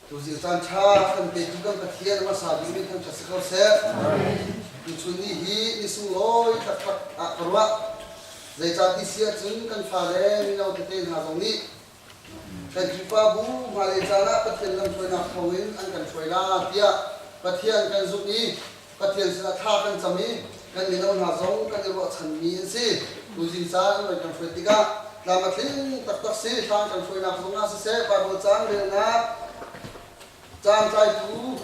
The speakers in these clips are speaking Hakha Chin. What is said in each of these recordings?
Tuzir caan ṭha kan petu kan Pathian a hmasa bik nih kan kha si ko seh. Tuchun ni hi ni sunglawi taktak ah ka ruah. Zeicah ti si ahcun kan fale mino tete hna zong nih kan Khrihfabu mahle caan ah Pathian lamhruainak thawngin an kan hruai la tiah Pathian kan zumh i Pathian sinah thla kan cam i kan mino hna zong kan i ruahchanmi an si. Tuzing caan noi kan hruai tikah tlam a tling taktak si. Hla kan hruainak zongah siseh, Bible caan relnak caantlaitu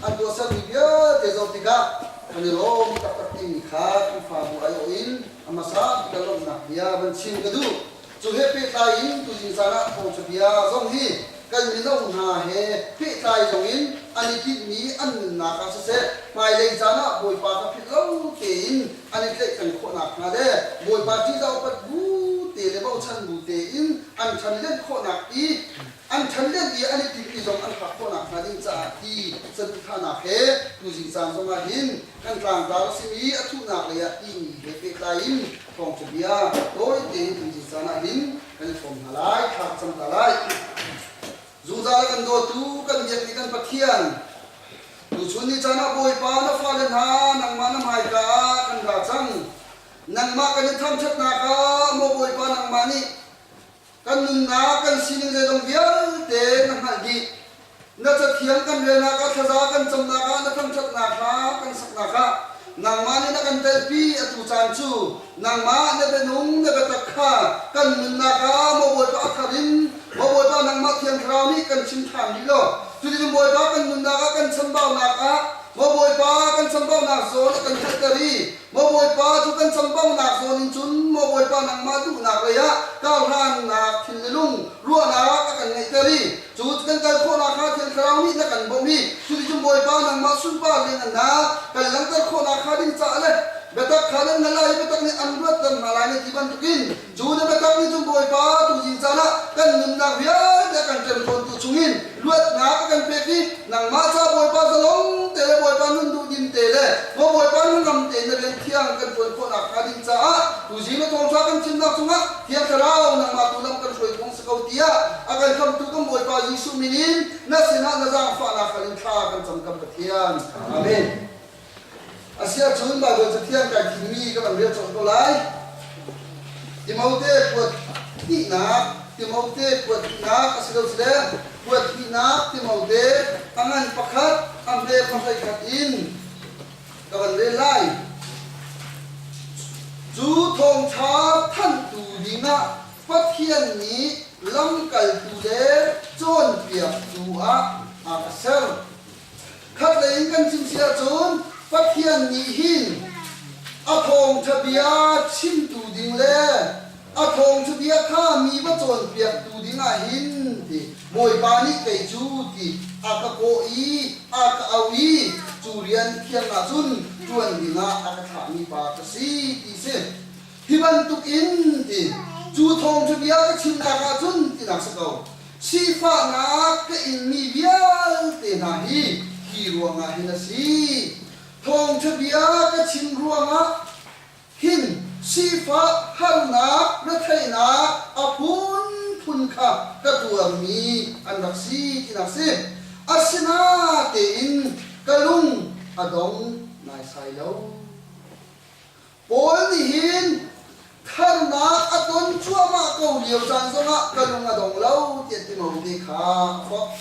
an tuahsermi vialte zoh tikah kan i lawm taktak timi kha Khrihfabu aiawh in a hmasa bik a lawmhnak bia van chim ka duh. Cu he pehtlai in tutin caan ah thawngṭhabia zong hi kan mino hna he pehtlai zongin an i tinhmi an nunnak ah siseh, hmailei caan ah Bawipa kha philh lo tein an i tlaihtleng khawh nakhnga le Bawipa ṭihzah upat bu te le bochan bu tein an ṭhanlen khawhnak i an ṭhanlen i an i tinhmi zong an phak khawh nakhnga ding caah ti saduhthahnak he tuzing caan zongah hin kan tlangtlar a simi a thuhnak leiah timi he pehtlai in Thawngṭha bia tawi tein an cut caan ah hin kan ṭhawng hna lai, thar cam hna lai. Judah le kan dawtu, kan biak mi kan Pathian, tuchun ni caan ah Bawipa na fale hna nangmah na hmaika ah kan ra cang. Nangmah kan i thangṭhatnak ah maw Bawipa nangmah nih kan nunnak kan sining zeizong vialte na hngalh dih. Na cathiang kan relnak ah thlaza kan camnak ah na thangṭhatnak hla kan saknak ah nangmah nih na kan telhpi atu caan cu nangmah na bianung na biatak kha kan nunnak ah maw Bawipa a khat in maw Bawipa nangmah Thiang Thlarau nih kan chim ṭhan rih law cuticun Bawipa kan nunnak ah kan chambaunak ah maw Bawipa kan chambaunak zawn a kan hngalhter i Maw Bawipa, cu kan chambaunak zawn in cun, Maw Bawipa, nangmah duhnak lei ah kauhrannak thilnilung ruahnak a kan ngeihter i cu kan kal khawh nakhnga Thiang Thlarau nih na kan bawmh i cuticun Bawipa nangmah sunpar lianngannak kan langhter khawh nakhnga ding caah le biatak kha nan hngalh lai i biatak nih an ruatter hna lai na ti bantukin Cu na biakam nih cun Bawipa tuzing caan ah kan nunnak vialte a kan hremhrawntu chungin luatnak a kan pek i nangmah ca Bawipa zalong te le Bawipa nun duhdim te le maw Bawipa hnangam tein na bel thiang kan ṭuan khawhnak hnga ding caah tuzing le thawngṭha kan chimnak cungah Thiang Thlarau nangmah tu lam kan hruai phung si ko tiah a kan khamhtu kan Bawipa Jesuh min in na sinah na zaangfahnak kha in thla kan cam kan Pathian. Amen. Asiahcun Baibal Cathiang kai thimmi ka van rel cawk ko lai. Timote kuat hnihnak, Timote kuat hnihnak a si lo sile kuat hnihnak Timote a ngan pakhat, a hme pakhat khat in ka van rel lai. Cu thawngṭha thanhtu dingah Pathian nih lamkaltu le cawnpiaktu ah aa ka ser. Khatlei in kan chim si ahcun Pathian nih hin a thawngṭha bia chimtu ding le a thawngṭha bia kha mi va cawnpiaktu dingah hin ti Bawipa nih kei cu ti a ka kawh i a ka auh i cu rian thiang ahcun ṭuan dingah a ka thlahmi pa ka si ti si. Hi bantuk in ti cu thawngṭha bia ka chimnak ah cun tinak si ko, sifahnak ka inmi vialte hna hi hi ruangah hin a si, thawngṭha bia ka chim ruangah hin sifah harnak retheihnak a phunphun kha ka tuarmi an rak si tinak si, asinatein ka lung a dong naisai lo. Paul nihhin harnak a ton cuahmah ko lio caan zongah ka lung a dong lo tiah Timote kha a forh.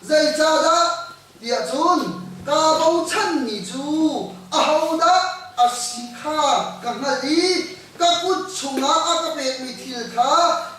Zeicahdah tiah cun kaa bochanmi cu ahodah a si kha ka hngalh i ka kut chungah a ka pekmi thil kha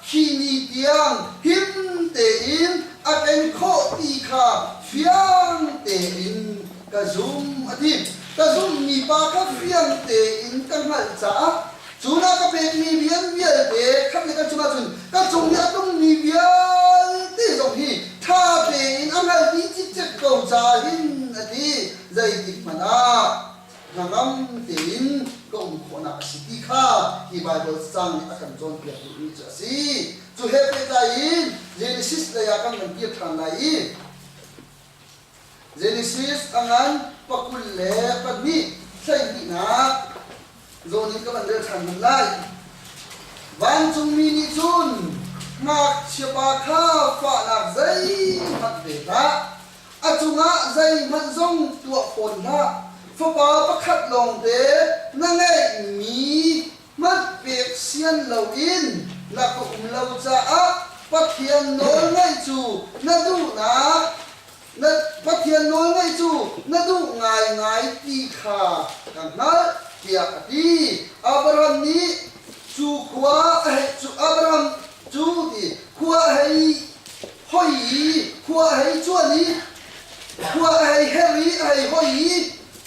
hi ni tiang him tein a ken khawh ti kha fiang tein ka zumh a ti. Ka zumhmi pa kha fiang tein ka hngalh caah cu na ka pekmi rian vialte khat le kan chungah cun ka cung i a tlungmi vialte zong hi ṭha tein a hngalh dih cikcek ko ca hin a ti. Zeitikhmanh ah hnangam tein ka um khawhnak a si ti kha hi Baibal cacang nih a kan cawnpiak duhmi cu a si. Cu he pehtlai in Genesis lei ah kan kan kir ṭhan lai i, Genesis a ngan pakul le pahnih hleihnihnak zawn in ka van rel ṭhan hmanh lai. Vancungmi nih cun ngakchiapa kha fahnak zeihmanh pe hlah, a cungah zeihmanh zong tuah fawn hlah. Fapa pakhat lawngte na ngeihmi Hmanh pek sian loin na ka um lo caah Pathian nawlngaih cu na duhnak na Pathian nawlngaih cu na duh ngaingai ti kha ka hngalh, tiah a ti. Abram nih cu khua a hei cu Abram cu ti khua a hei hoi i khua a hei cuan i khua a hei her i a hei hoi i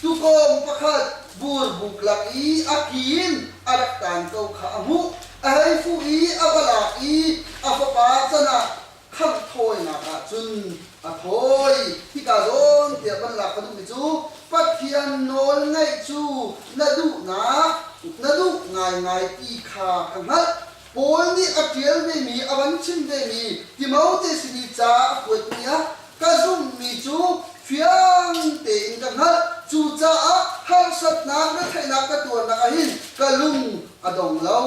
Tuukawng pakhat burbuk lak i a ki in a rak taan ko kha a hmuh. A hei fuh i a va lak i a fapa can ah khangh thawinak ah cun a thawi. Hika zawn tiah van lak ka duhmi cu Pathian nawl ngaih cu na duhnak na duh ngaingai ti kha ka hngalh. Paul nih a ṭial vemi, a van chim vemi Timote sin i ca a kuatmi ah Ka zumhmi cu fiang tein ka hngalh, cucaah harsatnak le theihnak ka tuarnak ah hin ka lung a dong lo,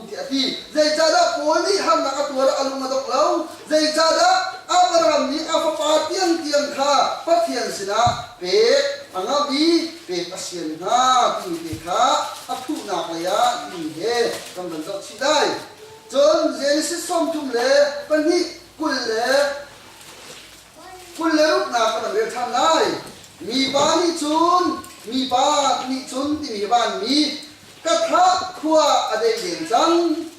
tiah a ti. Zeicahdah Paul nih harnak a tuar ah a lung a dongh lo? Zeicahdah Abraham nih a fapa tiangtiang kha Pathian sinah pek a ngamh i pek a sian hna timi te kha a thuhnak lei ah timi he kan van zohchih lai. Cun Genesis sawm thum le pahnih kul le Kul le ruknak ka rak rel ṭhan lai. Mipa nih cun, mipa nih cun timi hi vanmi, ka thah khua a deih len cang,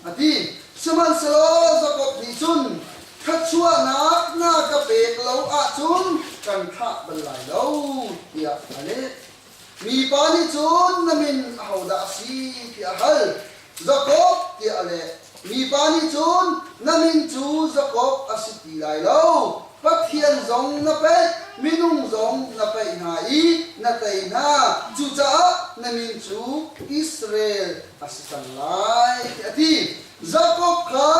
a ti. Sihmanhsehlaw Jakob nih cun, Thluachuahnak na ka pek lo ahcun kan thlah bal lai lo, tiah a leh. Mipa nih cun na min ahodah a si tiah a hal. Jakob tiah a leh. Mipa nih cun, Na min cu Jakob a si ti lai lo. Pathian zong na peih, minung zong na peih hna i na tei hna, cucaah na min cu Israel a si cang lai, tiah a ti. Jakob kha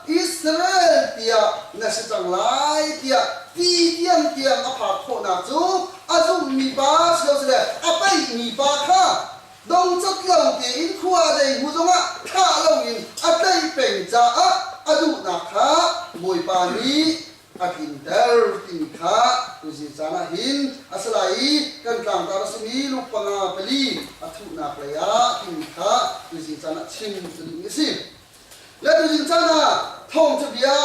Israel tiah na si cang lai tiah ti tiang tiang a phak khawhnak cu a zumhmi pa silosilole a peihmi pa kha dongcawt lo tein khua zei hmu zongah thlah loin a tlaih peng caah a duhnak kha Bawipa nih a tlinter timi kha tuzi caan ah hin a si lai i kan tlangtar a simi lu panga pali a thuhnak lei ah timi kha tuzi caan ah chim cu ding a si. Le tuzi caan ah thawngṭha bia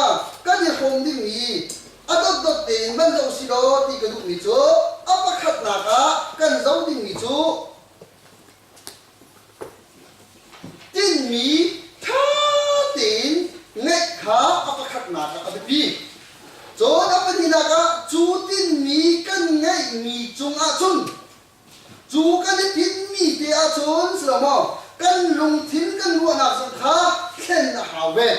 kan i hrawm dingmi a dotdot tein van zoh si law ti ka duhmi cu a pakhatnak ah kan zoh dingmi cu Tinhmi ṭha tein ngeih kha a pakhatnak ah a biapi. Cun a pahnihnak ah cu tinhmi kan ngeihmi cungah cun cu kan i tinhmi te ahcun si lo maw kan lungthin kan ruahnak zong kha thlen a hau ve.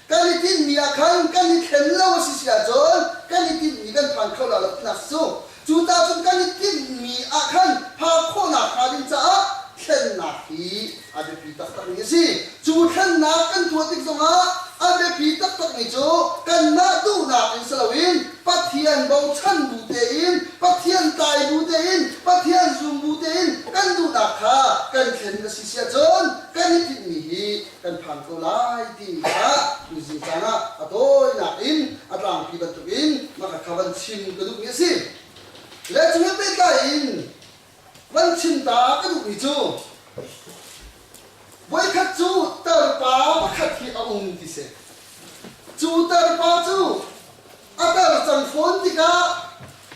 Kan i tinhmi ah khan kan i thlen lo a si si ahcun kan i tinhmi kan phan kho lai lo tinak a si. Cu tahcun kan i tinhmi ah khan phak khawhnak hnga ding caah thlennak hi a biapi taktakmi a si. Cu thlennak kan tuah tik zongah a biapi taktakmi cu kanmah duhnak in si loin Pathian bochan bu tein, Pathian tai bu tein, Pathian zum bu tein kan duhnak kha kan thlen a si si ahcun kan i tinhmi hi kan phan ko lai timi kha tuzing caan ah a tawinak in a tlangpi bantukin maka kha van chim ka duhmi a si le cu he pehtlai in van chim ta ka duhmi cu voikhat cu tarpa pakhat hi a um ti si cu tarpa cu a tar cang fawn tikah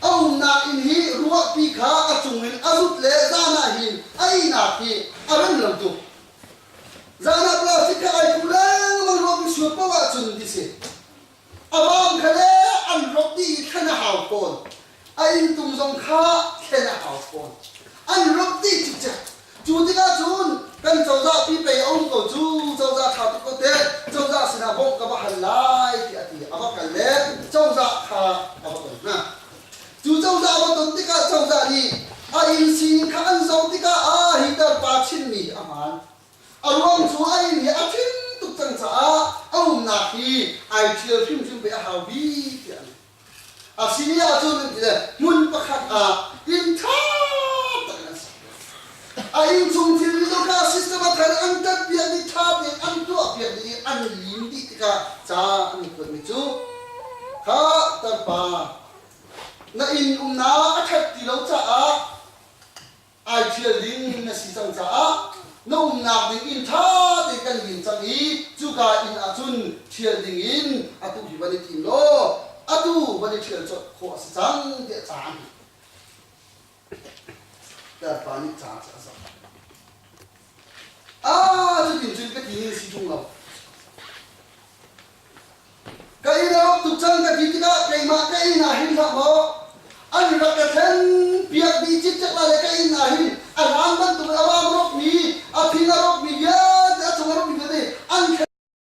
a umnak inn hi ruahpi kha a cung in a zut le zan ah hin a ihnak hi a rem lo tuk Zanah plastic kha ai thu lengmang ruangmi suat paoh ahcun ti si. A bang kha le an rawk dih i thlen a hau fawn. A inntung zong kha thlen a hau fawn. An rawk dih cikcek. Cu tikah cun kan cozah pi pei a um ko cu, cozah ṭha tuk ko teh, cozah sinah bawmh ka va hal lai tiah a ti. A va kal le cozah kha a va ton hna. Cu cozah va ton tikah cozah nih a inn sining kha an zoh tikah aa hiter, pa chimmi a hmaan. A ruang cu a inn hi a ṭhing tuk cang caah a umnak hi ai ṭhial hrimhrim ve a hau bik tiah an ti. A si ni ahcun an ti le hmun pakhat ah inn ṭha tak in an sak piak. A innchung thilri dawrka system a thar an ṭanhpiak i ṭha tein an tuahpiak i an lim dih tikah ca an i kuatmi cu, Kha tarpa, Na inn umnak a khat ti lo caah ai ṭhial ding na si cang caah na umnak ding inn ṭha tein kan din cang i cuka inn ahcun ṭhial ding in atu hi van i tim law atu van i ṭhial colh khawh a si cang tiah a caan Bawipa nih ca cu a zam. Ah, cutin cun ka ti in si tung lo. Ka inn a rak tuk cang ka ti tikah keimah ka inn ah hin hlah maw an rak ka then piak dih cikcek la le ka inn ah hin a hlan bantuk in a wang rawkmi a phing a rawkmi vialte a cung a rawkmi vialte an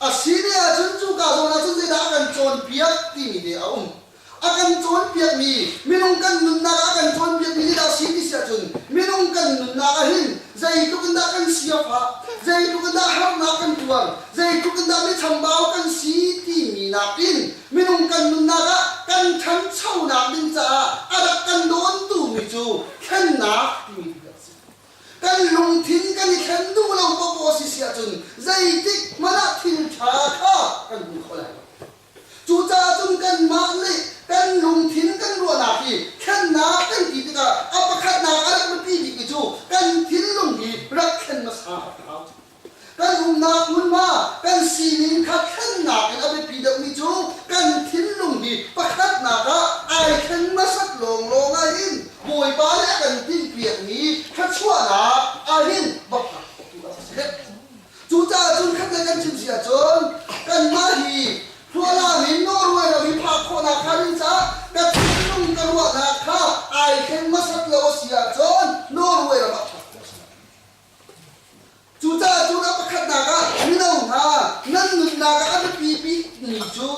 A si ve ahcun cuka zawn ahcun zeidah a kan cawnpiak timi te a um. A kan cawnpiakmi, minung kan nunnak a kan cawnpiakmi hi dah a si ti si ahcun minung kan nunnak ahhin zeitluk in dah kan siafah, zeitluk in dah harnak kan tuar, zeitluk in dah michambau kan si timi nakin minung kan nunnak ah kan ṭhanchonak ding caah a rak kan dawntu mi cu thlennak timi ti kan si. Kan lungthin kan i thlen duh lo poh a si si ahcun zeitik hmanh ah thilṭha kha kan hmu kho lai lo. Cucaah cun kanmah nih kan lungthin kan ruahnak hi thlennak kan ti tikah a pakhatnak a rak biapi bikmi cu kan thinlung hi rak thlen hmasa ka hau. Kan umnak hmunhma, kan sining kha thlennak in a biapi deuhmi cu kan thinlung hi pakhatnak ah ai thleng hmasat lawnglawng ahhin Bawipa nih a kan tinhpiakmi thluachuahnak ahhin bapnak khotu a si. Cucaah cun khatlei kan chim si ahcun kanmah hi hrualam in nawlruai lo hi phak khawhnak hnga ding caah ka thinlung ka ruahnak kha ai thleng hmasat lo a si ahcun nawlruai ram ah ṭhat a si. Cucaah cu ram pakhatnak ah mino hna nan nunnak ah a biapi bikmi cu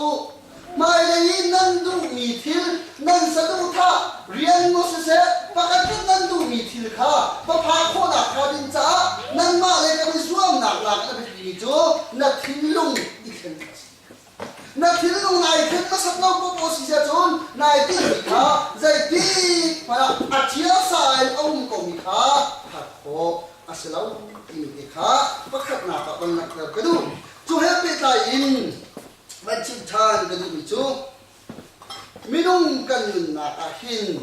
hmailei i nan duhmi thil nan saduhthah rian maw siseh pakhat nih nan duhmi thil kha va phak khawhnak hnga ding caah nanmah le kan i zuamnak nakin a biapimi cu na thinlung i thlen a si. Na thinlung nai khat hmasat lo poh si cun nai tinhmi kha zeitik hmanh ah a thiasa in a um komi kha hngalh khawh a si lo timi te kha pakhatnak ah van langhter ka duh. Cu he pehtlai in van chim ṭhan ka duhmi cu minung kan nunnak ah hin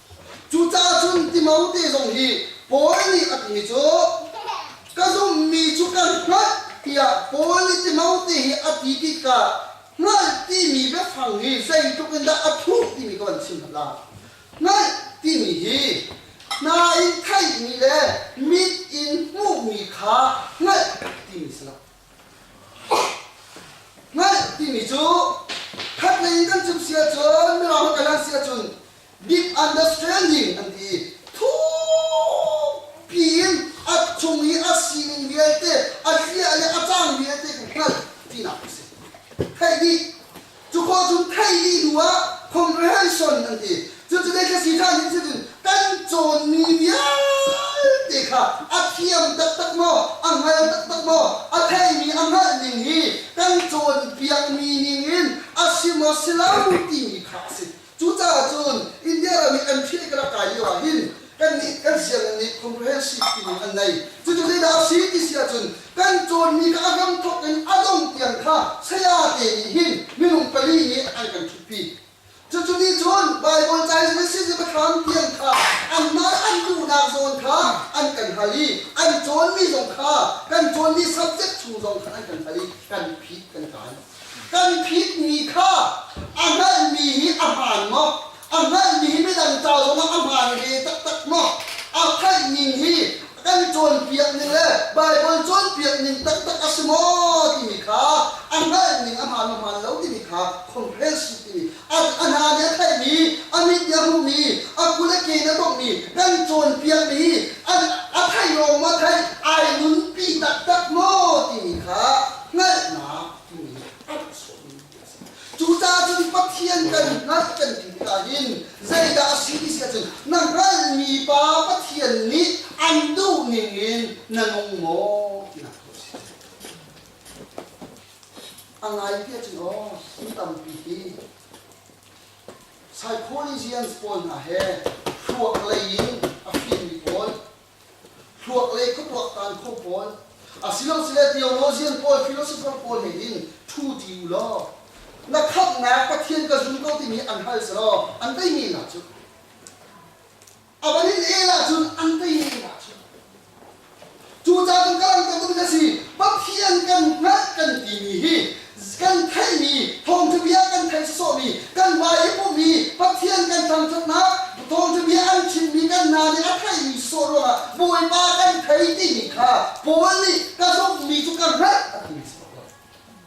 Cucaah cun Timote zong hi Paul nih a timi cu ka zumhmi cu ka hngalh tiah Paul nih Timote hi a ti tikah hngalh timi biafang hi zeitluk in dah a thuh timi kha van chim hmanh la. Hngalh timi hi hna in theihmi le mit in hmuhmi kha hngalh timi si lo. Hngalh timi cu khatlei in kan chim si ahcun Mirang holh si ahcun misunderstanding an ti. Thukpi in a chung i a sining vialte, a hlia le a cang vialte kan hngalh tinak a si. Theih nih Cu khua cu theih dih hnu ah comprehension an ti. Cucu Ecclesiastes nih cun kan cawnmi vialte kha a thiam taktak maw, a hngal taktak maw, a theimi a hngalh ning hi kan cawnpiakmi ning in a si maw, si lo timi kha a si. Cucaah cun India ram i an phih le kan rak kai lio ahhin kannih kan sianginn nih comprehensive timi an nei. Cucu zeidah a si ti si ahcun kan cawnmi kha a hramthawk in a dongh tiang kha sayate nih hin minung pali nih an kan ṭhutpi. Cucu nih cun Baibal caizul le siizia-biathlam tiang kha an mah an duhnak zawn kha an kan hal i an cawnmi zong kha kan cawnmi subject chung zong kha an kan hal i kan phih, kan kai. Kan phitmi kha a hngalhmi hi a hmaan maw? A hngalhmi hi midang ca zongah a hmaan ve taktak maw? A hngalhning hi kan cawnpiak ning le Baibal cawnpiak ning taktak a si maw timi kha a hngalhning a hmaan maw hmaan lo timi kha khomhhel sih timi A hna nih a thlaihmi, a mit nih a hmuhmi, a ku le ke nih a tonghmi, kan cawnpiakmi a theih lawng maw theih, ai nunpi taktak maw timi kha hngalhnak timi a rak chuakmi a si. Cucaah cun Pathian kan hngalh kan ti tikah hin zeidah a si ti si ahcun na hngalhmi Pa Pathian nih an duh ningin na nung maw tinak tu a si. A ngai ti cu aw, mi tampi hi Psychologians pawl hna he thluak lei in a fimmi pawl, thluak lei khuapuaktan kho pawl, asilosile theologian pawl, philosopher pawl he hin ṭhu ti u law, na khamhnak Pathian ka zum ko timi an hal selaw an deihmi nak cu A van in el ahcun an teining ah a chim. Cucaah ka ram bantuk in a si. Pathian kan hngalh kan timi hi kan theihmi, thawngṭhabia kan theih sawhsawhmi, kan hmai i pumhmi, Pathian kan thangṭhatnak, thawngṭhabia an chimmi kan hna nih a theihmi sawh ruangah Bawipa kan thei timi kha Paul nih ka zumhmi cu ka hngalh a timi si ko.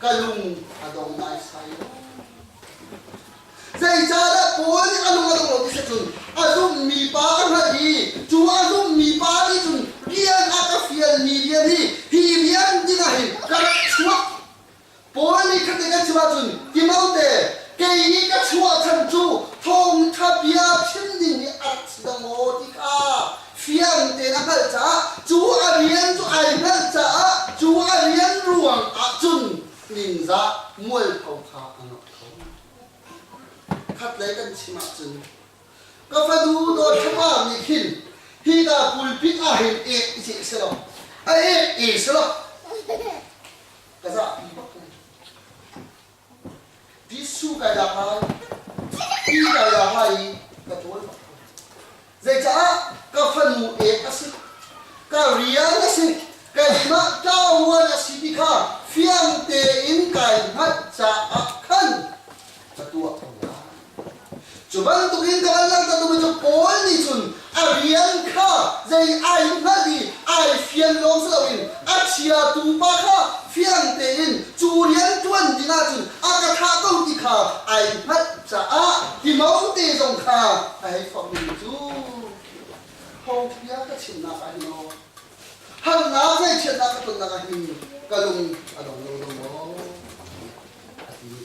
ka lung a dong naisai lo. Zeicahdah Paul nih a lung a dong lo ti cun a zummi pa a hngalh i cu a zummi pa nih cun rian a ka fialmi rian hi hi rian dingah hin ka rak chuak. Paul nih khati kan chim ahcun Timote kei nih ka chuah chan cu thawngṭha bia chim ding hi a rak si dang maw ti kha Fiang tein a hngalh caah cu a rian cu ai hngalh caah cu a rian ruang ahcun ningzah mualpho kha a ngah kho. Khatlei kan chim ahcun ka fanu Dawtthapa nih hin hi ta pulpit ah hin ek i ceh selaw a ek e selaw ka zahpi bak lai. Ti su kai dah ngai, ti kai dah ngai i ka dawl bak ko. Zeicah ka fanu ek a si, ka rial a si, keimah ṭaoruan a si ti kha fiang tein kai hngalh caah khan ka tuah ko lai. Cu bantukin ka kan langhter duhmi cu Paul nih cun a rian kha zei ai hngalh i ai fian lawng si loin a chiatu pa kha fiang tein cu rian ṭuan dingah cun a ka thah ko ti kha ai hngalh caah Timote zong kha a hei thawkmi cu phobia ka chimnak ah hin aw harnak le chiatnak ka tonnak ah hin ka lung a dong lo lo maw? a ti i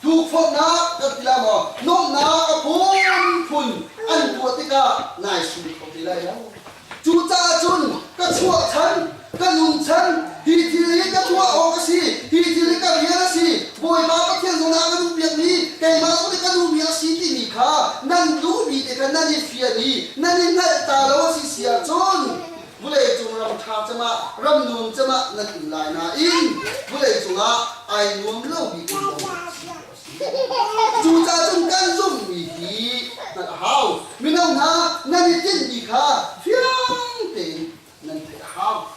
Tukforhnak kan ti lai maw? Nuamhnak a phunphun an tuah tikah nai sum kho te lai lo. Cucaah cun ka chuah chan, ka nun chan, hi thil hi ka tuah awk a si, hi thil hi ka rian a si, Bawipa Pathian zong ah ka nu biakmi, keimah zong hi ka nu biak a si timi kha nan duhmi te kha nan i fian i nan i hngalh ta lo a si si ahcun, Vuleicung ram ṭha cemah, ram dum cemah nan um lai nain vuleicung ah ai nuam lomi um ko nan si, a ti. Cucacun kan zumhmi hi hngalh a hau, mino hna, nan i tinhmi kha fiang tein nan theih a hau.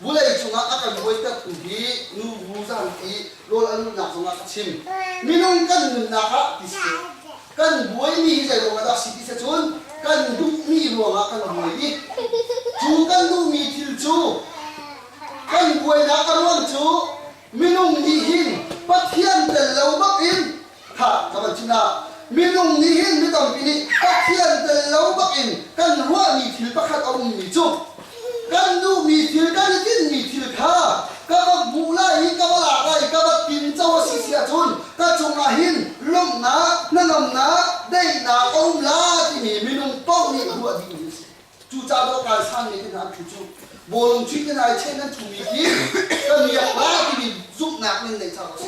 Vuleicung ah a kan buaitertu hi nubu zanpi rawl a luhnak zongah ka chim. Minung kan nunnak ah ti seh, Kan buaimi hi zeiruangah dah a si ti cu cun kan duhmi ruangah kan buai i cu kan duhmi thil cu kan buainak a ruang cu minung nih hin Pathian tel lo bak in tha ka van chim hlah, minung nih hin mi tampi nih Pathian tel lo bak in kan ruahmi thil pakhat a ummi cu Kan duhmi thil, kan i tinhmi thil kha ka va hmuh lai i ka va lak lai i ka va tinco a si si ahcun ka cungah hin lawmhnak, hnangamnak, daihnak a um la timi minung paoh nih ruah ding hi a si. Cucaah dawhkai sanmi te hna an thuchuh, bawlung ṭhit in ai cheh nan thuhmi khi ka miak la timi zumhnak in neih caah a si.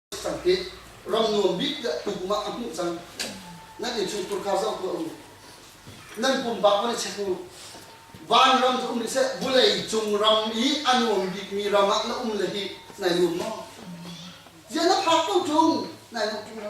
Sakhi ram nuam bik tiah tukum ah a hmuh cang. Nan in chung kurkar zong ku um. Nan pum bak man chek u. Van ram cu um rih seh, vulei cung ram i a nuam bikmi ram ah na um le hi nai nuam maw? Zian na phak ko ṭung, nai nuam ṭung lo.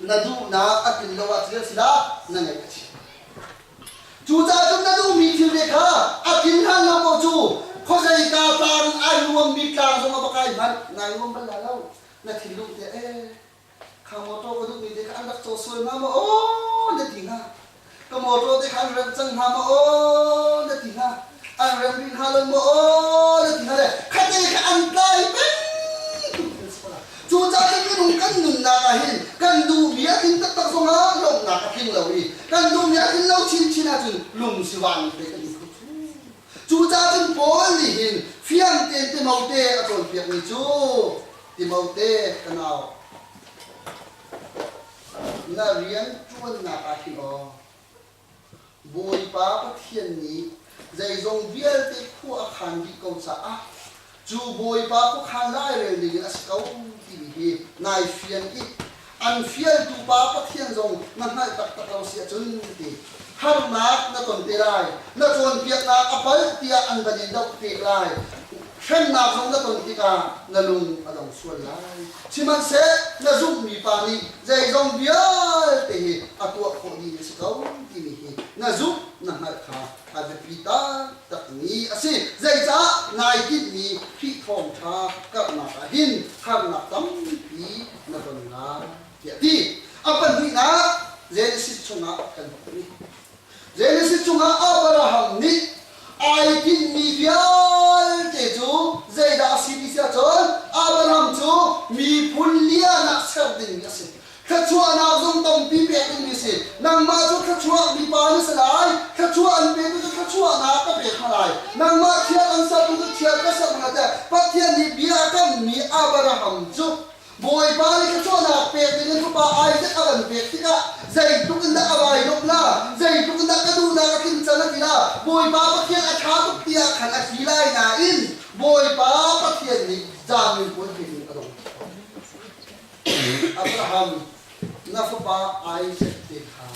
Na duhnak a tlun lo ahcun a si dah na ngaih a si. Cucaah na duhmi thilte kha a tlin hlan lo paoh cu khuazei ta tlang in ai nuammi tlang zong a va kai hmanh nai nuam bal la lo. Na thinlung te ee, kha mawtaw ka duhmi te kha an rak caw sual hnga maw aw na ti hnga. Ka mawṭaw te kha an remh cang hna maw na ti hna, an remh rih hna lo maw na ti hna le khatte kha an tlai bantuk an si pala. Cucaah minung kan nunnak ah hin kan duh bia tling taktak zong ah lawmhnak a tling lo i kan duh bia tling lo chinchin ahcun lung si vanmi te kan i kho cu. Cucaah cun Paul nih hin fiang tein Timote a cawnpiakmi cu Timote ka nau, Na rianṭuannak ah hin aw Bawipa Pathian nih zeizong vialte khua a khaan dih ko caah cu Bawipa khua khaan lairel dingin a si ko timi hi nai fian i an fialtu Pa Pathian zong na hngalh taktak lo si ahcun ti. Harnak na ton te lai, na cawnpiaknak a palh tiah an van in dohfeh lai. Hremnak zong na ton tikah na lung a dong sual lai. Sihmanhseh na zumhmi pa nih zeizong vialte hi a tuah khawhmi a si ko timi hi na zumh, na hngalh kha a biapi taktakmi a si. Zeicah nai tinhmi Khrih Thawngṭha karhnak ah hin harnak tampi na ton lai? tiah a ti. A pahnihnak Genesis chungah kan va hmun i Genesis chungah Abraham nih ai tinhmi vialte cu zeidah a si ti si ahcun Abraham cu miphun liahnak ser dingmi a si. Thluachuahnak zung tampi pek dingmi a si. Nangmah cu thluachuah mipa na si lai, thluachuah an petu cu thluachuahnak ka pek hna lai. Nangmah thial an sertu cu thial ka ser hna tiah Pathian nih bia a kammi Abraham cu Bawipa nih thluachuahnak pek dingin fapa Isaac a kan pek tikah zeitluk in dah a vailawmh la, zeitluk in dah ka duhnak a tlincal a ti la, Bawipa Pathian a ṭha tuk tiah khan a si lai nain Bawipa Pathian nih zaanmin puan thei ding a dong. Abraham na fapa Isaac te kha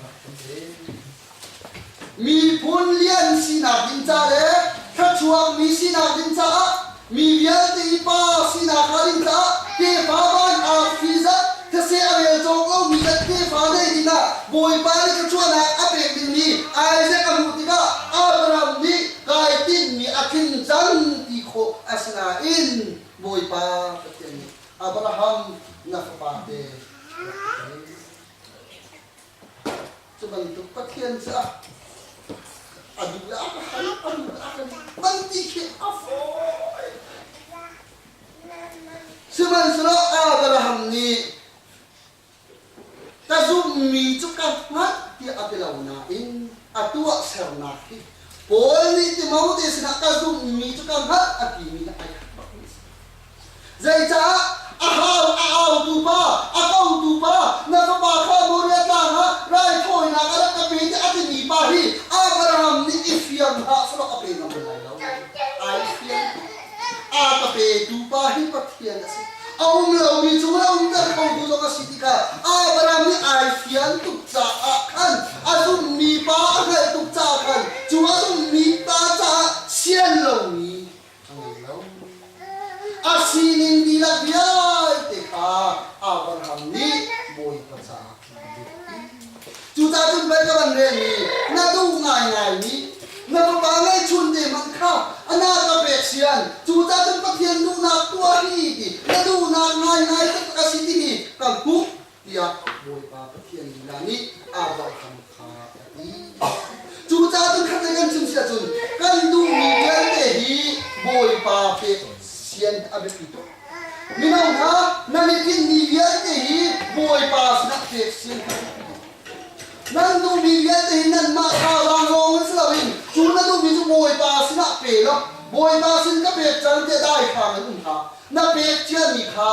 rak ka pek. Miphun lian sinak ding ca le thluachuak mi sinak ding caah mi vialte i pa sinak a ding caah tefa van ah fee zat these a rel cawk lomi zat tefa nei dingah Bawipa nih thluachuahnak a pek dingmi Isaac a hmuh tikah Abraham nih kai tinhmi a tling cang ti khawh a si nain Bawipa Pathian nih Abraham na fapa te rak ka tei. Cu bantuk Pathian cu a a duh ah a hal a duh ah kan man ti khi a fawi sihmanhsehlaw Abraham nih ka zumhmi cu ka hngalh tiah a ti lo nain a tuahsernak hi Paul nih Timote sinah ka zumhmi cu ka hngalh a timi hi ai khat bakmi a si. Zeicah a hau a autu pa, a kotu pa, na fapa kha Moria tlang ah raithawinak a rak ka pe tiah a timi pa hi Abraham nih i fiang hlah sulaw a pe ngam bal lai lo. Ai fiang. Aa ka petu pa hi Pathian a si. A um lomi cung le umter khotu zong a si ti kha Abraham nih ai fian tuk caah khan a zummi pa a hngalh tuk caah khan cu a zummi ta caah sian lomi a ngei lo. A sining dihlak vialte kha Abraham nih Bawipa caah a biakpi. Cucaah cun pei ka van rel i na duh ngaingaimi na fapa ngeihchun te hmanh kha a na ka pek sian, cucaah cun Pathian duhnak tuah rih ti na duhnak ngaingai taktak a si timi ka hmuh. tiah Bawipa Pathian lila nih a ralkam kha a ti. Cucaah cun khatlei kan chim si ahcun kan duhmi vialte hi Bawipa pek sian a biapi tuk. Mino hna, nan i tinhmi vialte hi Bawipa sinah pek sian a biapi tuk. Nan duhmi vialte hi nanmah thazaang lawng in si loin cu na duhmi cu Bawipa sinah pe law Bawipa sin ka pek cang tiah daithlang in um hlah. Na pek ciami kha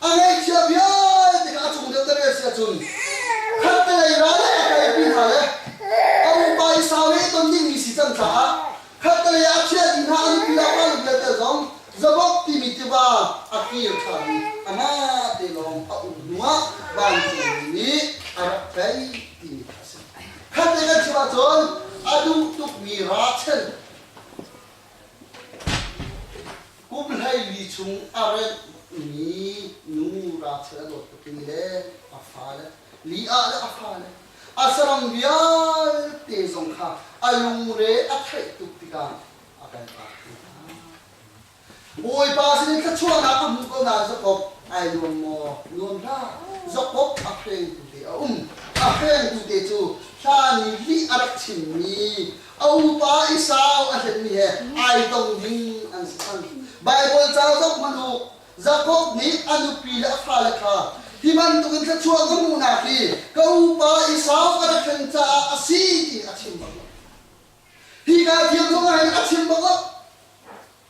A ngeihchia vialte kha a chung deuhter a si ahcun khattelei ra le a kalpi hna le a upa i saohe i ton dingmi si cang caah khattelei ah a chiahti hna a nupi le a fanu vialte zong Zabok timi tiva a kir ṭhan i amah te lawng a um hnuah vancungmi nih a rak tlaih timi kha a si. Khatte kan chim ahcun a duh tukmi ralchen Kumhleili chung a remhmi nu ralchia a dawt tukmi le a fale, li ah le a fale, a saram vialte zong kha a lungre a theih tuk tikah a kaltak hna. Bawipa sin in thluachuahnak a hmu ko nain Jakob ai nuam maw? Nuam hlah. Jakob a hrengtu te a um. A hrengtu te cu hlan i lih a rak chimmi A upa Esau a hlenmi he ai tong ding an si cang. Baibal ca zoh hmanh u, Jakob nih a nupi le a fale kha hi bantukin thluachuah ka hmuhnak hi ka upa Esau a rak hlen caah a si tiin a chim bak lo. Hika thil zong ah hin a chim bak lo.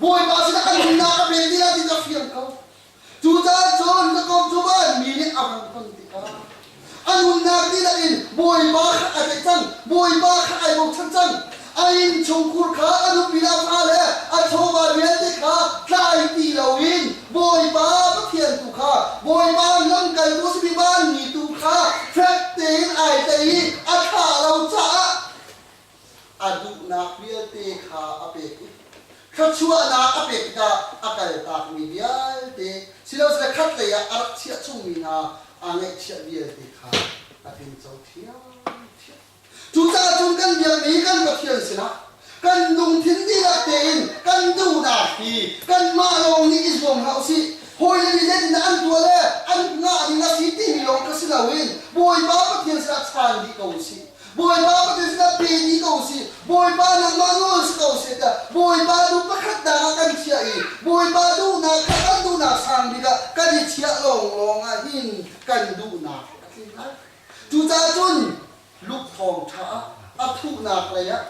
Bawipa sinah ka nunnak a vel dih ahtin a fiang ko. Cucaah John ka komh cu vanmi nih a hung ton tikah a nunnak dihlak in Bawipa kha a tlaih cang, Bawipa kha ai bochan cang. A innchungkhur kha a nu pila fa le a chawva vialte kha tlai ti loin Bawipa Pathian tu kha, Bawipa lamkaltu a simi vanmi tu kha fek tein ai tei i a thlah lo caah a duhnak vialte kha a pek i thluachuahnak a pek tikah a kaltakmi vialte silosile khatlei ah a rak chiah chungmi hna aa ngaihchiah vialte kha a tlingco ṭhiamṭhiam. Cucaah cun kan biami kan Pathian sinah kan lungthin dihlak tein kan duhnak hi kanmah lawng nih i zuam hlah u sih. Hawile nih lennak an tuah le an ngah ding a si timi lawng kha si loin Bawipa Pathian sinah chan dih ko u sih. Bawipa baptism ah pe ti ko si, Bawipa nangmah nawl si ko seh tiah Bawipa duh pakhatnak ah kan chiah i Bawipa duhnak kha kan duhnak sang bik ah kan i chiah lawnglawng ah hin kan duhnak a tlin lai. Cucaah cun Luke thawngṭha ah a thuhnak lei ah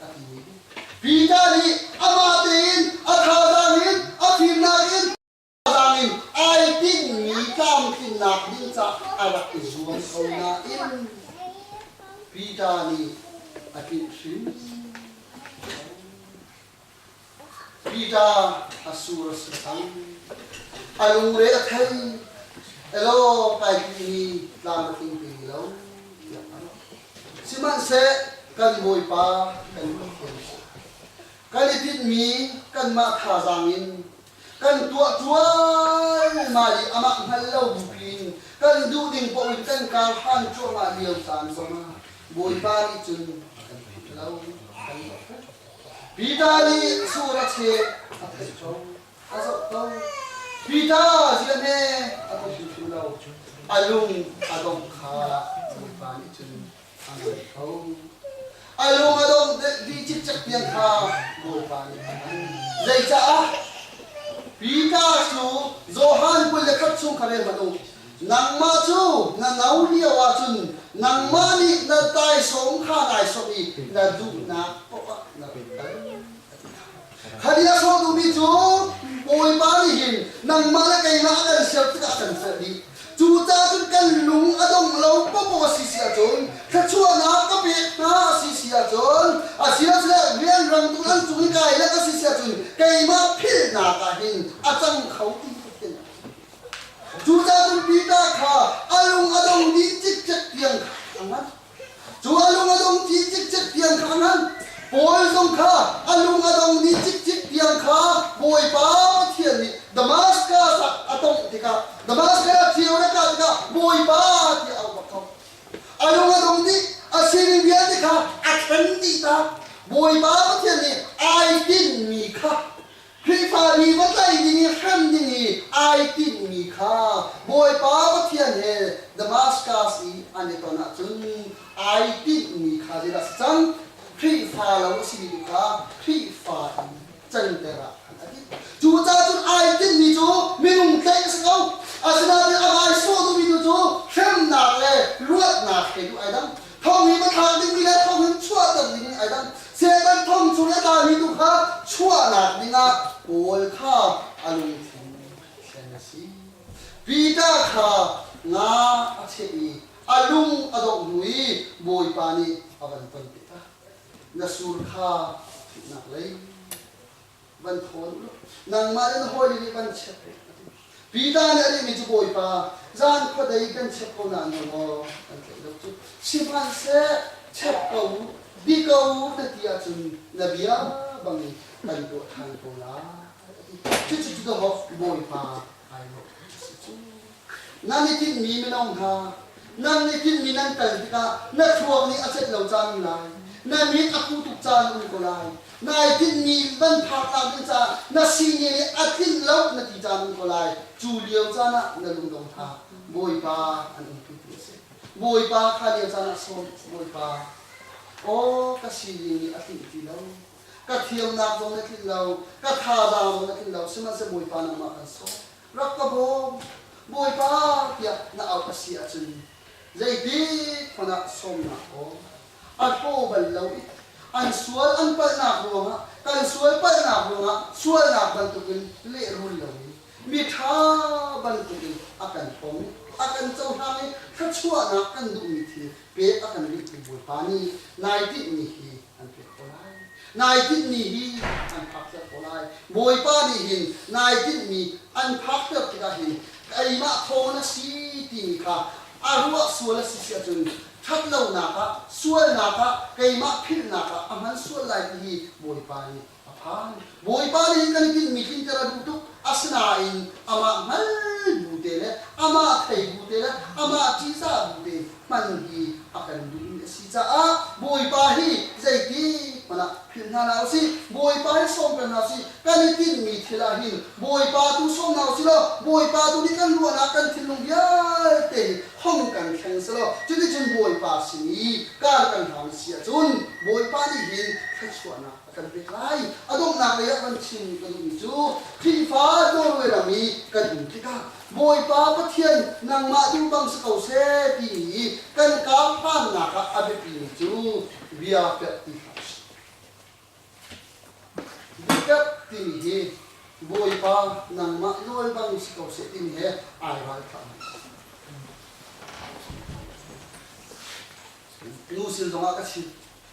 a timi hi, Peter nih amah tein a thazaang in, a fimnak in, tlang in ai tinhmi tlamtlinnak ding cah a rak i zuam ko nain Peter nih a tlinh hrimhrim. Peter a sur a si cang. A lungre a thei. Elo kaipi hi tlang a tling ti lo. Tiah a rak. Sihmanhseh kan Bawipa kan Pathian kan i tinhmi kanmah thazaang in Kan tuah cuahlmah i amah hngal lo bik in kan duh ding paoh in kan karhan cuahmah lio caan zongah Bawipa nih cun a kan pek lo, a kan zohkhenh. Peter nih sur a cheh, a theih ko, a zoh ko. Peter ziahme a hmu hrimhrim lo, a lung a dongh kha Bawipa nih cun a rat kho. A lung a dong bik mi cikcek pian kha Bawipa nih a hman. Zeicaah? Peter cu Johan kul le khat chung kha rel hmanh u. Nangmah cu na no lio ahcun nangmah nih na taisawm kha nai sawmh i na duhnak poah na run tan, a ti hna. Hali a sawtu mi cu, Bawipa nih hin nangmah le kei hna a kan ser tikah a kan serh dih. Cucaah cun kan lung a dong lo popo a si si ahcun, thluachuahnak ka pek hna a si si ahcun, asiasile rianrangtu nan cung i kai lek a si si ahcun, keimah philhnak ah hin a cang kho ti te lai. Cucaah cun Peter kha a lung a dong dih cikcek tiang kha a ngat. Cu a lung a dongmi cikcek tiang kha ngan, Paul zong kha a lung a dongmi cikcek tiang kha Bawipa Pathian nih Damaskas ah a tongh tikah Damaskas ah thil na kah tikah Bawipa tiah a upat ko. A lung a dong dih, a sining vialte kha a ṭhen dih tak. Bawipa Pathian nih ai tinhmi kha Khrihfa nih va tlaih ding i hrem ding i ai tinhmi kha Bawipa Pathian he Damaskas i an i ton ahcun ai tinhmi kha zeidah a si cang? Khrihfa lo a simi tu kha Khrihfa in canter ah khan a dih. Cucaah cun ai tinhmi cu minung tlaih a si ko. Asinain a rai sawh duhmi tu cu hremnak le luatnak he duh ai dang. Thawnghi mithla dingmi le thawngin chuahter dingin ai dang. Satan thawng chung i a tlami tu kha chuahnak dingah Paul kha a lungthin a thlen a si. Peter kha nga a cheh i a lung a dongh hnu i Bawipa nih a van tonpitak. Na sur kha a thuhnak lei. van thawn u, nangmah in hawile nih van chiat u, a ti. Peter nih a timi cu, Bawipa, zan khuadei kan chiah ko nain na maw kan tlaih lo cu? Sihmanhseh, check ko u, bi ko u, na ti ahcun na bia bang in kan tuah ṭhan ko lai, a ti. Cucu cu The Hoff, Bawipa, ai ruah a si cu. Nan i tinhmi minung hna, nan i tinhmi nan kal tikah na thluak nih a cenh lo caan um lai, na min a phu tuk caan a um ko lai, nai tinhmi in van phak aa dinh caah na singe nih a tlinh lo na ti caan um ko lai, cu lio caan ah na lungdong kha Bawipa an in pumhmi a si. Bawipa kha lio caan ah sawm, Bawipa, aw ka sining nih a tlinh ti lo, ka thiamnak zong na tlinh lo, ka thazaang zong na tlinh lo, sihmanhsehlaw Bawipa nangmah kan sawm. Rak ka bawm, Bawipa, tiah na auh a si ahcun zeibik hmanh ah sawmnak kawl a hlaw bal lo i an sual an palhnak ruangah kan sual palhnak ruangah sualnak bantukin lehrul lomi miṭha bantukin a kan hrawm i a kan cohlang i thluachuahnak kan duhmi thil pek a kan rihtu Bawipa nih nai tinhmi hi an pek ko lai. Nai tinhmi hi an phakter ko lai. Bawipa nih hin nai tinhmi an phakter tikah hin keimah thawng na si timi kha a ruah sual a si si ahcun ṭhatlonak ah, sualnak ah, keimah philhnak ah a hman sual lai ti hi Bawipa nih A phan. Bawipa nih hin kan tinhmi tlinter a duh tuk, asinain amah hngal bu te le amah thei bu te le amah ṭihzah bu te hman hi a kan duhmi a si caah Bawipa hi zeitikhmanh ah philh hna hna u sih. Bawipa hi sawmter hna u sih. Kan i tinhmi thil ah hin Bawipa tu sawm hna u sih law Bawipa tu nih kan ruahnak, kan thinlung vialte in hong kan thleng sehlaw cuticun Bawipa sin i kar kan hlang si ahcun Bawipa nih hin thluachuahnak A kan pek lai. A donghnak lei ah kan chimmi ka duhmi cu Khrihfa Norway ram i kan um tikah Bawipa Pathian nangmah duh bang si ko seh timi i kan karhlannak ah a biapimi cu bia perh ti kha a si. Biaperh timi hi Bawipa nangmah nawl bang si ko seh timi he ai ralhrangmi a si. Nu sin zongah ka chim.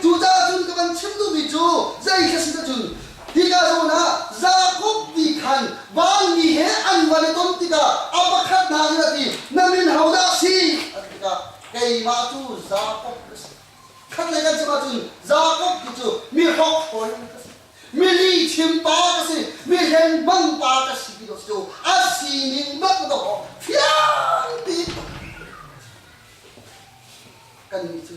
Cucaah cun ka van chim duhmi cu zeihi a si ahcun, hika zawn ah Jakob nih khan vanmi he an van i ton tikah a pakhat hna nih a ti, Na min hodah a si? a ti tikah, Keimah cu Jakob ka si. Khatlei kan chim ahcun Jakob hi cu mi hrokhrol ka si, mi lihchim pa ka si, mi hlengmang pa ka si ti cu a si cu, a sining bantuk a fiang ti. Kannih cu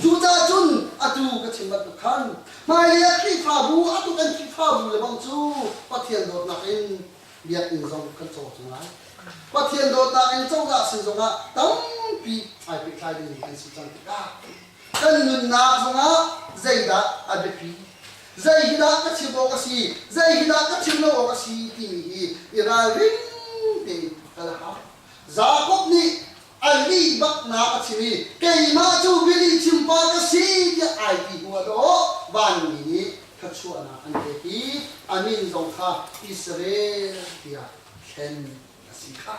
Cucaah cun atu ka chim bantuk khan hmailei ah Khrihfabu, atu kan Khrihfabu le bang cu Pathian dawtnak in biakinn zong kan cawk cu lai. Pathian dawtnak in cozah sin zongah tampi ai pehtlai dingmi kan si cang tikah kan nunnak zongah zeidah a biapi, zei hi dah ka chim awk a si, zei hi dah ka chim lo awk a si timi hi i ralring tein kal a hau. Jakob nih Anih baknak a chim i, Keimah cu Billy chimpa ka si tiah ai ti hnuah dawh vanmi nih thluachuahnak an pek i a min zong kha Israel tiah thlen a si kha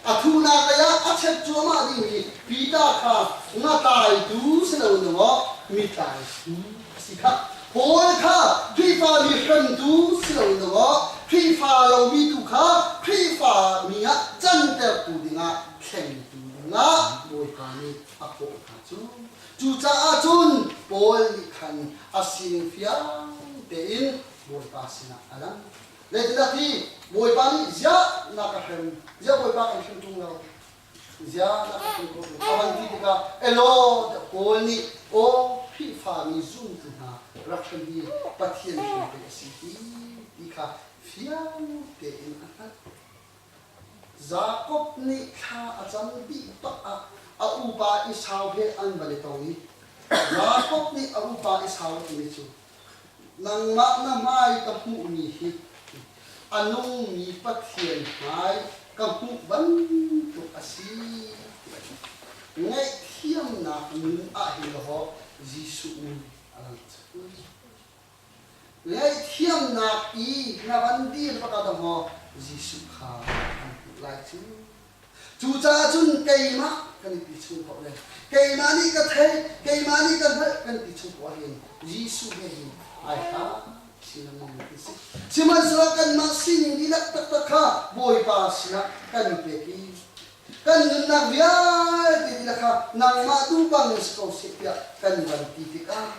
a thuhnaklei ah a check cuahmah dingmi Peter kha ngatlaitu si loin maw mitlai bu a si kha Paul kha Khrihfa mi hrentu si loiloah Khrihfa lomi tu kha Khrihfa mi ah cantertu dingah thlengtu dingah Bawipa nih a kawh hna cu. Cucaah cun Paul nih khan a sining fiang tein Bawipa sinah a lang. Zeitindah ti, Bawipa nih ziah na ka hrem, ziah Bawipa kan hrem ṭung lo? Ziah na ka hrin khawh tuk? A van ti tikah Elaw tiah Paul nih aw Khrihfami zumtu hna rak hrem hi Pathian hrin pei a si hi ti kha fiang tein a hngalh. Jakob nih thla a cam dih bak ah a upa Esau he an van i tong i Jakob nih a upa Esau a timi cu Nangmah na hmai ka hmuhmi hi a nungmi Pathian hmai ka hmuh bantuk a si ti a si. Ngaihthiamnak nu ah hin law Jesuh nih a lang cang. Ngaihthiamnak i na van dir bak ah dah maw Jesuh kha an hmuh lai cu Cucaah cun keimah kan i ti chung ko le keimah nih ka theih, keimah nih ka hngalh kan ti chung ko ahhin Jesuh he hin ai hla chinam ning ti si. Sihmanhsehlaw kanmah sining dihlak taktak kha Bawipa sinah kan pek i kan nunnak vialte dihlak kha nangmah tu bangin si ko seh tiah kan van ti tikah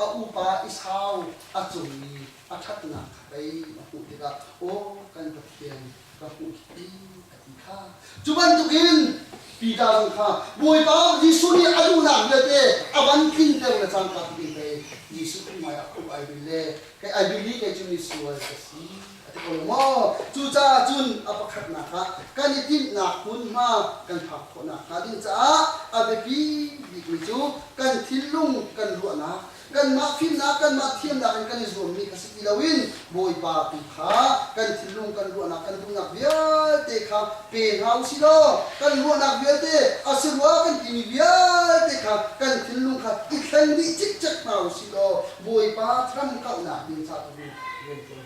a upa i sau a cungmi a ṭhatnak kha pei a hmuh tikah aw kan Pathian ka hmuh hi a ti kha cu bantukin Peter zong kha Bawipa Jesuh nih a duhnak vialte a van tlinter le cangka tiin pei Jesuh hmaiah khuh ai bil le kei ai bil i kei cu misual ka si A ti ko maw? Cucaah cun a pakhatnak ah kan i tinhnak hmunhma kan phak khawh nakhnga ding caah a biapi bikmi cu kan thinlung kan ruahnak, kanmah fimnak, kanmah thiamnak in kan i zuammi a si ti loin Bawipa tu kha kan thinlung, kan ruahnak, kan duhnak vialte kha pe hna u sih law kan ruahnak vialte a si rua kan timi vialte kha kan thinlung kha i thleng dih cikcek hna u sih law Bawipa thramhkauhnak ding ca tu rian ṭuan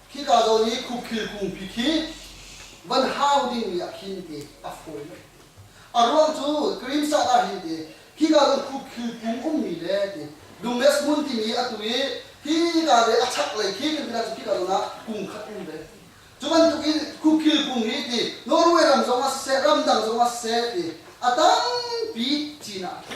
Khika zawn i khukhil kungpi khi van hau dingmi ah khin i a fawi. A ruang cu cream sat ah hin i khika zawn khukhil kung ummi le ti dumes hmun timi atu i hika le a chaklei khi kan tinak cu khika zawn ah kung khat um ve. Cu bantukin khukhil kung hi ti Norway ram zong ah siseh ramdang zong ah siseh ti a tampi Chin ah a tha.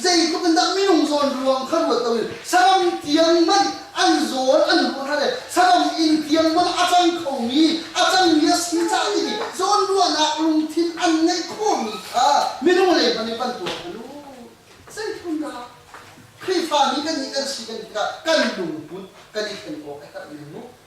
Zeitluk in dah minung zawnruang kha ruat lo in sagam tiang man an zawl an ruah hna le sagam inn tiang man a cang kho mi a cangmi a si ca timi zawnruahnak lungthin an ngeih khawhmi kha minung lei hmanh nih kan tuak a lu. Zeitluk dah Khrihfa mi kan nih kan si kan tikah kan lungput kan i thlen awk a herh men mu.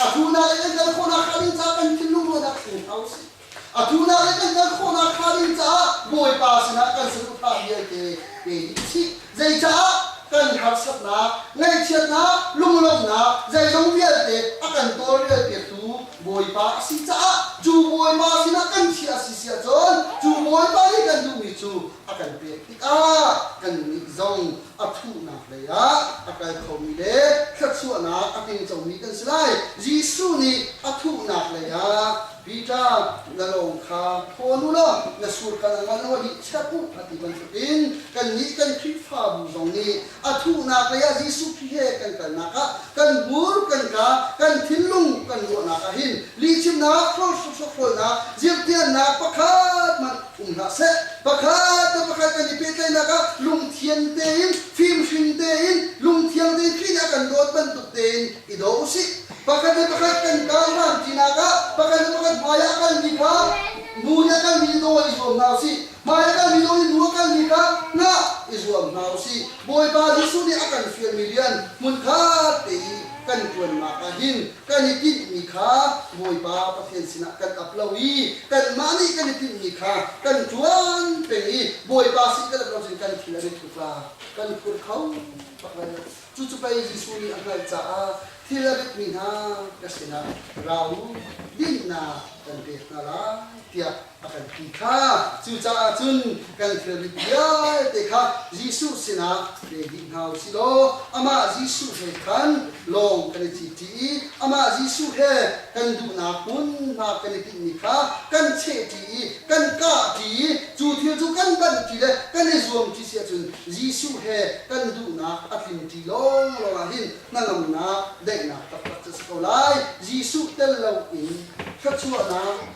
Atu naklei kan kal khawhnak hnga ding caah kan thinlungrualnak thleng hna usih. Atu naklei kan kal khawhnak hnga ding caah Bawipa sinah kan saduhthah vialte pe dih chih. Zeicah? Kan harsatnak, ngaihchiatnak, lunglawmhnak zeizong vialte a kan tawlrel piaktu Bawipa a si caah cu Bawipa sinah kan chiah a si siahcun cu Bawipa nih kan duhmi cu a kan pek tikah kan nih zong a thuhnak lei ah a kal khomi le thluachuahnak a tling comi kan si lai. Jesuh nih a thuhnak lei ah, Peter, na lawng kha thawn u law na sur kal a ngol lo hi chek u, a ti bantukin kannih kan Khrihfabu zong nih a thuhnak lei ah Jesuh Khrih he kan kalnak ah kan bur, kan ka, kan thinlung, kan ruahnak ah hin lihchimnak, hrol hruhruak hrawlnak, zirhtiannak pakhat hmanh um hlah seh. Pakhat le pakhat kan i pehtlaihnak ah lungthian tein, fimhring tein, lungthiang tein thih a kan dawt bantuk tein i daw u sih. Pakhat le pakhat kan kal hlantinak ah, pakhat le pakhat hmai ah kalmi kha mu in a kalmi daw i zuam hna u sih. Hmai a kalmi daw i nu a kalmi kha hna i zuam hna u sih. Bawipa Jesuh nih a kan fialmi rian hmunkhat te i kan ṭuannak ah hin Kan i tinhmi kha Bawipa Pathian sinah kan ap lo i kanmah nih kan i tinhmi kha kan ṭuan peng i Bawipa sin kan ap lo cun kan thil an i thutla, kan phur kho takvei. Cucu pei Jesuh nih a hngalh caah thil a ritmi hna ka sinah ra u, dinnak kan pek hna lai, tiah a kan ti kha cucaah cun kan thilrit vialte kha Jesuh sinah pe dih hna u sih law amah Jesuh he khan lawng kan i citṭi i amah Jesuh he kan duhnak hmunhma kan i tinhmi kha kan chehṭi i kan kahṭi i cu thil cu kan banṭi le kan i zuamṭi si ahcun Jesuh he kan duhnak a tlinṭi lawnglawng ah hin hnangamnak daihnak taktak cu a si ko lai. Jesuh tel loin thluachuahnak